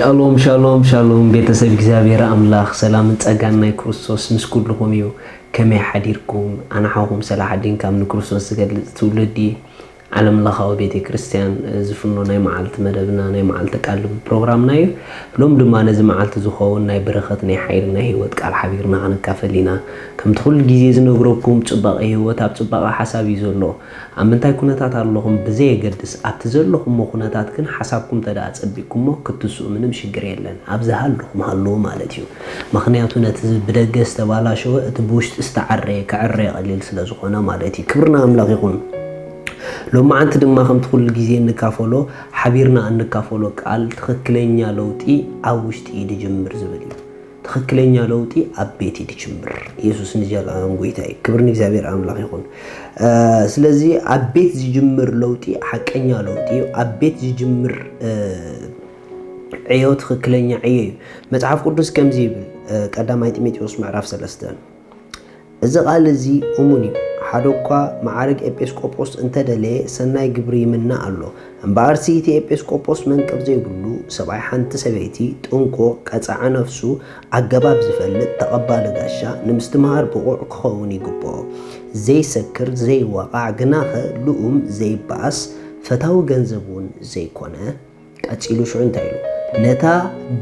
ሻሎም ሻሎም ሻሎም ቤተሰብ እግዚኣብሔር ኣምላክ ሰላምን ጸጋን ናይ ክርስቶስ ምስ ኩልኹም እዩ ከመይ ሓዲርኩም ኣነ ሓውኩም ሰላሓዲን ካብ ንክርስቶስ ዝገልጽ ትውልዲ ዓለም ለኻዊ ቤተ ክርስቲያን ዝፍኖ ናይ መዓልቲ መደብና ናይ መዓልቲ ቃል ልቢ ፕሮግራምና እዩ ሎም ድማ ነዚ መዓልቲ ዝኸውን ናይ በረኸት ናይ ሓይሊ ናይ ህይወት ቃል ሓቢርና ክንካፈል ኢና ከምቲ ኩሉ ግዜ ዝነግረኩም ጽባቐ ህይወት ኣብ ጽባቐ ሓሳብ እዩ ዘሎ ኣብ ምንታይ ኩነታት ኣለኹም ብዘየገድስ ኣብቲ ዘለኹሞ ኩነታት ግን ሓሳብኩም ተደኣ ኣጸቢቅኩሞ ክትትስኡ ምንም ሽግር የለን ኣብ ዝሃለኹም ሃልዉ ማለት እዩ መኽንያቱ ነቲ ብደገ ዝተባላሸወ እቲ ብውሽጢ ዝተዓረየ ክዕረ ቀሊል ስለ ዝኾነ ማለት እዩ ክብሪ ንኣምላኽ ይኹን ሎማዓንቲ ድማ ከምቲ ኩሉ ግዜ እንካፈሎ ሓቢርና እንካፈሎ ቃል ትኽክለኛ ለውጢ ኣብ ውሽጢ እዩ ድጅምር ዝብል እዩ ትክክለኛ ለውጢ ኣብ ቤት እዩ ዝጅምር ኢየሱስ ንዘለኣለም ጎይታ እዩ ክብር ንእግዚኣብሔር ኣምላኽ ይኹን ስለዚ ኣብ ቤት ዝጅምር ለውጢ ሓቀኛ ለውጢ እዩ ኣብ ቤት ዝጅምር ዕዮ ትክክለኛ ዕዮ እዩ መጽሓፍ ቅዱስ ከምዚ ይብል ቀዳማይ ጢሞቴዎስ ምዕራፍ ሰለስተ እዚ ቃል እዚ እሙን እዩ፣ ሓደ እኳ መዓርግ ኤጲስቆጶስ እንተ ደለየ ሰናይ ግብሪ ይምነ ኣሎ፣ እምበኣርሲ እቲ ኤጲስቆጶስ መንቅብ ዘይብሉ ሰብኣይ ሓንቲ ሰበይቲ፣ ጥንቁቕ፣ ቀጻዒ ነፍሱ፣ ኣገባብ ዝፈልጥ፣ ተቐባሊ ጋሻ፣ ንምስትምሃር ብቑዕ ክኸውን ይግብኦ። ዘይሰክር፣ ዘይዋቓዕ፣ ግናኸ ልኡም፣ ዘይበኣስ፣ ፈታዊ ገንዘብ እውን ዘይኮነ። ቀጺሉ ሽዑ እንታይ ኢሉ? ነታ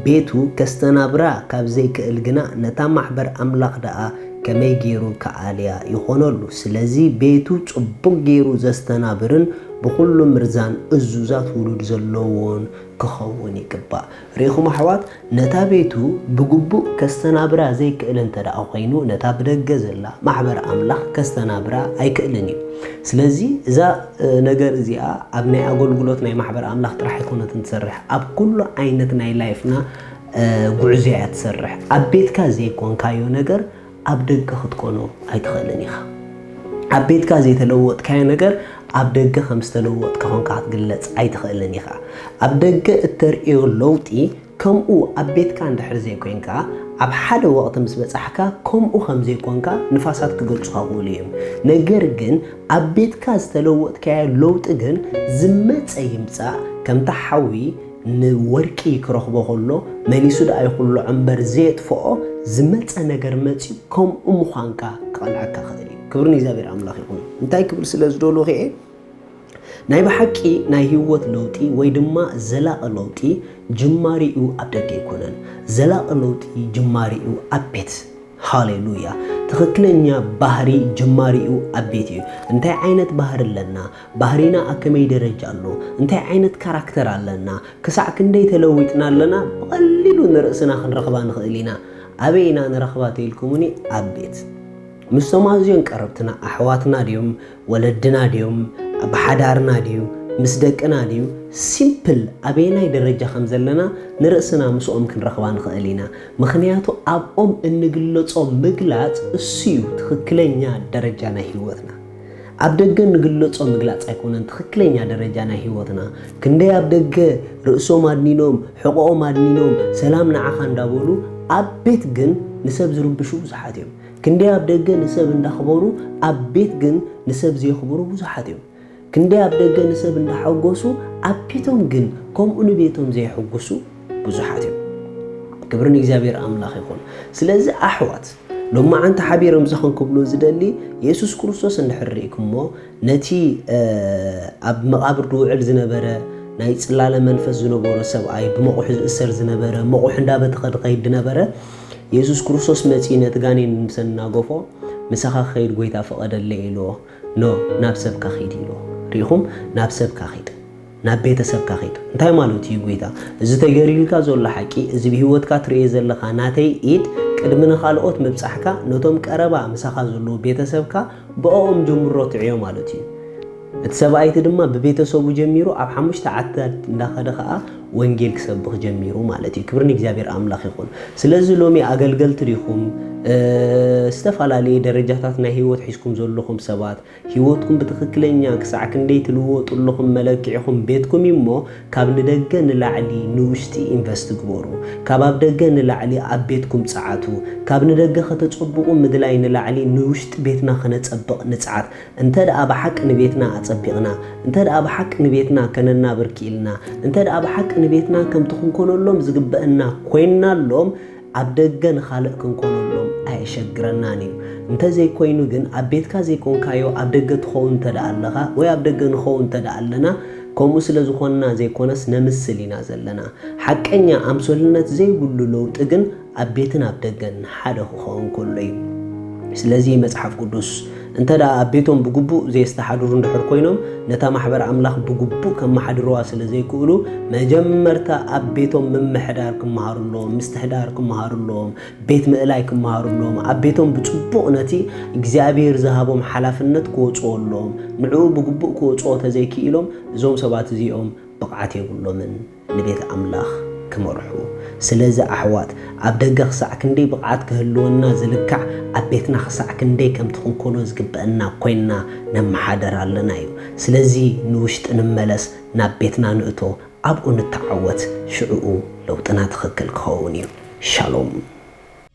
ቤቱ ከስተናብራ ካብ ዘይክእል ግና ነታ ማሕበር ኣምላኽ ደኣ ከመይ ገይሩ ክኣልያ ይኾነሉ? ስለዚ ቤቱ ጽቡቕ ገይሩ ዘስተናብርን ብኹሉ ምርዛን እዙዛት ውሉድ ዘለዎን ክኸውን ይግባእ። ርኢኹም ኣሕዋት ነታ ቤቱ ብግቡእ ከስተናብራ ዘይክእል እንተ ደኣ ዀይኑ፣ ነታ ብደገ ዘላ ማሕበር ኣምላኽ ከስተናብራ ኣይክእልን እዩ። ስለዚ፣ እዛ ነገር እዚኣ ኣብ ናይ ኣገልግሎት ናይ ማሕበር ኣምላኽ ጥራሕ ኣይኰነትን ትሰርሕ፣ ኣብ ኵሉ ዓይነት ናይ ላይፍና ጕዕዞ እያ ትሰርሕ። ኣብ ቤትካ ዘይኰንካዮ ነገር፣ ኣብ ደገ ክትኮኖ ኣይትኽእልን ኢኻ። ኣብ ቤትካ ዘይተለወጥካዮ ነገር ኣብ ደገ ከም ዝተለወጥካ ኮንካ ክትግለጽ ኣይትኽእልን ኢኻ። ኣብ ደገ እተርእዮ ለውጢ ከምኡ ኣብ ቤትካ እንድሕር ዘይኮንካ ኣብ ሓደ ወቕቲ ምስ በጻሕካ ከምኡ ከም ዘይኮንካ ንፋሳት ክገልጹኻ ክእሉ እዮም። ነገር ግን ኣብ ቤትካ ዝተለወጥካዮ ለውጢ ግን ዝመጸ ይምጻእ ከምታ ሓዊ ንወርቂ ክረኽቦ ከሎ መሊሱ ደኣ ይኹልዖ እምበር ዘየጥፍኦ ዝመጸ ነገር መጽዩ ከምኡ ምዃንካ ክቐልዐካ ክኽእል እዩ። ክብሪ ንእግዚኣብሔር ኣምላኽ ይኹን። እንታይ ክብል ስለ ዝደልኹ እየ ናይ ብሓቂ ናይ ህይወት ለውጢ ወይ ድማ ዘላቒ ለውጢ ጅማሪኡ ኣብ ደገ ኣይኮነን። ዘላቒ ለውጢ ጅማሪኡ ኣብ ቤት ሃሌሉያ ትኽክለኛ ባህሪ ጅማሪኡ ኣብ ቤት እዩ እንታይ ዓይነት ባህሪ ኣለና ባህሪና ኣብ ከመይ ደረጃ ኣሎ፣ እንታይ ዓይነት ካራክተር ኣለና፣ ክሳዕ ክንደይ ተለዊጥና ኣለና ብቐሊሉ ንርእስና ክንረኽባ ንኽእል ኢና። ኣበይ ኢና ንረኽባ ተኢልኩሙኒ፣ ኣብ ቤት። ምስቶም ኣዝዮም ቀረብትና፣ ኣሕዋትና ድዮም፣ ወለድና ድዮም፣ ኣብ ሓዳርና ድዩ፣ ምስ ደቅና ድዩ፣ ሲምፕል ኣበየናይ ደረጃ ከም ዘለና ንርእስና ምስኦም ክንረኽባ ንኽእል ኢና። ምኽንያቱ ኣብኦም እንግለጾ ምግላጽ እሱ'ዩ ትኽክለኛ ደረጃ ናይ ህይወትና። ኣብ ደገ ንግለጾ ምግላጽ ኣይኮነን ትኽክለኛ ደረጃ ናይ ህይወትና። ክንደይ ኣብ ደገ ርእሶም ኣድኒኖም፣ ሕቖኦም ኣድኒኖም፣ ሰላም ንዓኻ እንዳበሉ ኣብ ቤት ግን ንሰብ ዝርብሹ ብዙሓት እዮም። ክንደይ ኣብ ደገ ንሰብ እንዳኽበሩ ኣብ ቤት ግን ንሰብ ዘየኽብሩ ብዙሓት እዮም። ክንደይ ኣብ ደገ ንሰብ እንዳሐጎሱ ኣብ ቤቶም ግን ከምኡ ንቤቶም ዘየሕጉሱ ብዙሓት እዮም። ክብሪ ንእግዚኣብሔር ኣምላኽ ይኹን። ስለዚ ኣሕዋት! ሎማዓንቲ ሓቢሮም ዝኽን ክብሉ ዝደሊ የሱስ ክርስቶስ እንድሕር ርኢኩሞ ነቲ ኣብ መቓብር ድውዕል ዝነበረ ናይ ጽላለ መንፈስ ዝነበሮ ሰብኣይ ብመቑሑ ዝእሰር ዝነበረ መቑሑ እንዳበተኸ ድኸይድ ድነበረ የሱስ ክርስቶስ መጺኡ ነቲ ጋኔን ምስ ኣናገፎ ምሳኻ ክኸይድ ጎይታ ፈቐደለይ ኢልዎ ኖ ናብ ሰብካ ኺድ ኢልዎ ርኢኹም ናብ ሰብካ ኺድ ናብ ቤተሰብካ ኺድ። እንታይ ማለቱ እዩ ጎይታ? እዚ ተገይሩልካ ዘሎ ሓቂ፣ እዚ ብህይወትካ ትርእዮ ዘለኻ ናተይ ኢድ፣ ቅድሚ ንኻልኦት ምብጻሕካ፣ ነቶም ቀረባ ምሳኻ ዘለዉ ቤተሰብካ ብኣኦም ጀምሮ ትዕዮ ማለቱ እዩ። እቲ ሰብኣይቲ ድማ ብቤተሰቡ ጀሚሩ ኣብ ሓሙሽተ ዓድታት እንዳኸደ ኸኣ ወንጌል ክሰብኽ ጀሚሩ ማለት እዩ። ክብሪ ንእግዚኣብሔር ኣምላኽ ይኹን። ስለዚ ሎሚ ኣገልገልቲ ዲኹም? ዝተፈላለየ ደረጃታት ናይ ህይወት ሒዝኩም ዘለኹም ሰባት ህይወትኩም ብትኽክለኛ ክሳዕ ክንደይ ትልወጡ ኣለኹም መለክዒኹም ቤትኩም እዩ እሞ ካብ ንደገ ንላዕሊ ንውሽጢ ኢንቨስት ግበሩ። ካብ ኣብ ደገ ንላዕሊ ኣብ ቤትኩም ፀዓቱ። ካብ ንደገ ከተፀብቑ ምድላይ ንላዕሊ ንውሽጢ ቤትና ከነፀብቕ ንፅዓት። እንተድኣ ብሓቂ ንቤትና ኣፀቢቕና፣ እንተድኣ ብሓቂ ንቤትና ከነናብር ክኢልና፣ እንተድኣ ብሓቂ ንቤትና ከምቲ ክንኮነሎም ዝግበእና ኮይንናሎም፣ ኣብ ደገ ንኻልእ ክንኮነሎም ኣየሸግረናን እዩ። እንተዘይኮይኑ ግን ኣብ ቤትካ ዘይኮንካዮ ኣብ ደገ ትኸውን እንተድኣ ኣለኻ ወይ ኣብ ደገ ንኸውን እንተድኣ ኣለና ከምኡ ስለዝኾንና ዘይኮነስ ነምስል ኢና ዘለና። ሓቀኛ ኣምሶልነት ዘይብሉ ለውጢ ግን ኣብ ቤትን ኣብ ደገን ሓደ ክኸውን ከሎ እዩ። ስለዚ መጽሓፍ ቅዱስ እንተ ደኣ ኣብ ቤቶም ብግቡእ ዜስተሓድሩ እንድሕር ኰይኖም፣ ነታ ማሕበር ኣምላኽ ብግቡእ ኬመሓድርዋ ስለ ዘይክእሉ፣ መጀመርታ ኣብ ቤቶም ምምሕዳር ኪመሃሩ ኣለዎም፣ ምስትሕዳር ኪመሃሩ ኣለዎም፣ ቤት ምእላይ ኪመሃሩ ኣለዎም። ኣብ ቤቶም ብጽቡቕ ነቲ እግዚኣብሄር ዝሃቦም ሓላፍነት ኪወጽኡ ኣለዎም። ንዕኡ ብግቡእ ኪወጽኦ እንተ ዘይክኢሎም፣ እዞም ሰባት እዚኦም ብቕዓት የብሎምን። ንቤት ኣምላኽ ክመርሑ። ስለዚ ኣሕዋት፣ ኣብ ደገ ኽሳዕ ክንደይ ብቕዓት ክህልወና ዝልካዕ፣ ኣብ ቤትና ኽሳዕ ክንደይ ከምቲ ክንኰኖ ዝግብኣና ኰይንና ነመሓድር ኣለና እዩ። ስለዚ ንውሽጢ ንመለስ፣ ናብ ቤትና ንእቶ፣ ኣብኡ ንተዓወት፣ ሽዕኡ ለውጥና ትኽክል ክኸውን እዩ። ሻሎም!